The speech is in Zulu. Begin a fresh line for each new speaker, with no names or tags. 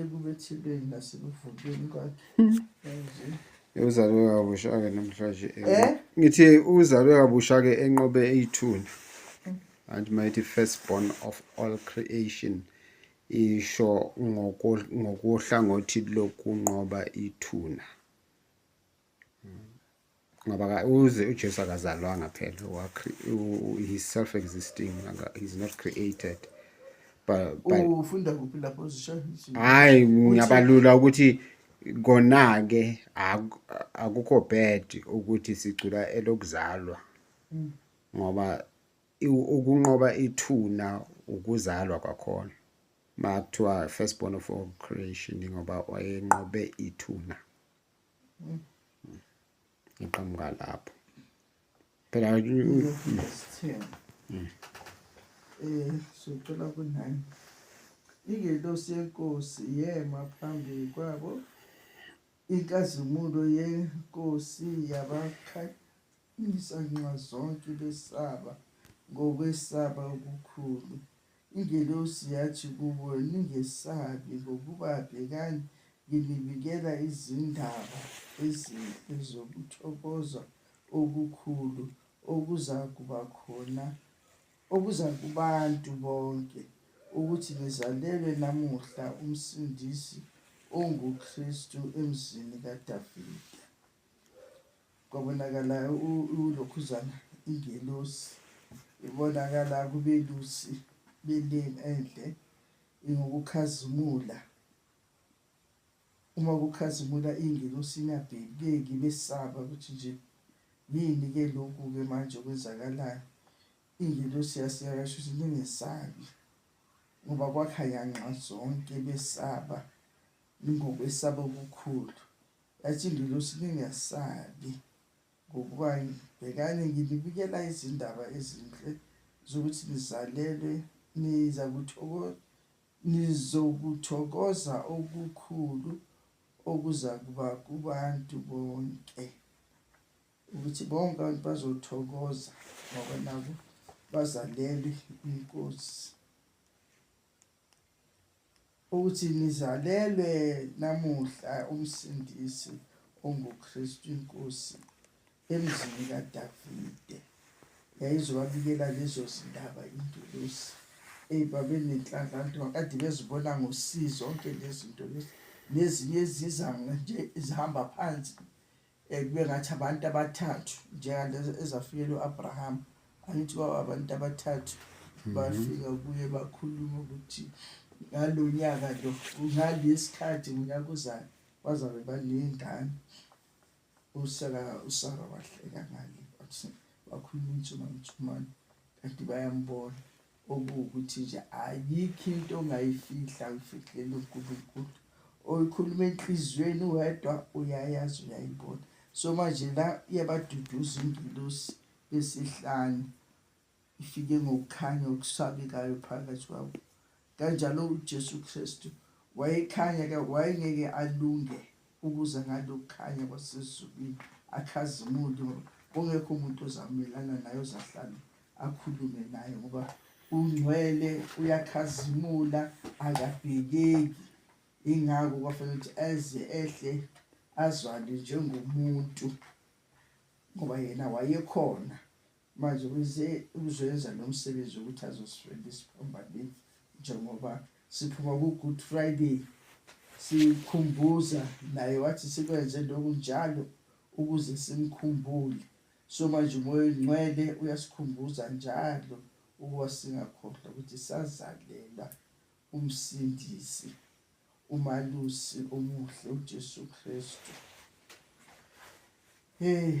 ekubethelweni nasekuvukeni kwakhe manje uzalwe
kabusha-ke namhlanje eh? ngithi uzalwe kabusha-ke enqobe eyithuna and mighty first born of all creation isho ngokohlangothi lokunqoba ithuna ngoba ka uze uJesu akazalwanga phela wa he self existing he is not created but but ufunda kuphi
lapho zisho hayi
ngiyabalula ukuthi kona ke akukho bad ukuthi sicula elokuzalwa mm. ngoba ukunqoba ithuna ukuzalwa kwakhona makuthiwa first born of all creation ngoba wayenqobe ithuna iqhamuka lapho phela
eh sicela kunani ingelosi yenkosi yema phambi kwabo inkazimulo yenkosi yabakhanyisa nxa zonke besaba ngokwesaba okukhulu Ingelosi yathi kubo, Ningesabi, ngokuba bhekani, nginibikela izindaba ezinhle zokuthokoza okukhulu okuzakuba khona, okuza kubantu bonke, ukuthi ngizalelwe namuhla uMsindisi onguKristu emzini kaDavida. kwabonakala ulokhuzana ingelosi ibonakala kubelusi beleni enhle ingukukhazimula uma kukhazimula ingelosi ingabhekeki besaba ukuthi nje yini ke lokhu ke manje okwenzakalayo ingelosi yasiyakasho ukuthi ningesabi ngoba kwakhaya nxa zonke besaba ningokwesaba okukhulu Yathi ingelosi, Ningesabi, ngokuba bhekani, nginibikela izindaba ezinhle zokuthi nizalelwe, nizokuthokoza okukhulu okuzakuba kubantu bonke, ukuthi bonke abantu bazothokoza ngoba nabo bazalelwe inkosi. ukuthi nizalelwe namuhla umsindisi onguKristu inkosi emzini kaDavide yayizowabikela lezo zindaba ingelosi eyi babenenhlanhla nto kade bezibona ngosizo zonke lezinto lezi nezinye eziza nje zihamba phansi Eh, kube ngathi abantu abathathu njengalezi ezafikela u-abrahama angithi kwaba abantu abathathu mhm. bafika kuye bakhuluma ukuthi ngalo nyaka lo ngalesi khathi ngonyaka uzayo bazabe baney'ngane usara usara wahleka ngale wakhuluma umthumamthumane kanti bayambona okuwukuthi nje ayikho into ongayifihla uyifihlele uNkulunkulu oyikhuluma enhliziyweni wedwa uyayazi uyayibona so manje la iyabaduduza ingilosi besihlanu ifike ngokukhanya okusabekayo phakathi kwabo kanjalo uJesu Kristu wayekhanya ke wayengeke alunge Ukuza ngalo kukhanya kwasezulwini akhazimuli ngoba kungekho umuntu ozamelana naye ozahlala akhulume naye ngoba ungcwele uyakhazimula akabhekeki ingako kwafanele ukuthi eze ehle azwane njengomuntu ngoba yena wayekhona Manje ukuze ukuzoyenza lo msebenzi ukuthi azosifenda isiphambanini njengoba siphuma ku-good friday sikhumbuza naye wathi sikwenze lokhu njalo ukuze simkhumbule so manje umoya ongcwele uyasikhumbuza njalo ukuba singakhohlwa ukuthi sazalela umsindisi umalusi omuhle ujesu kristu hey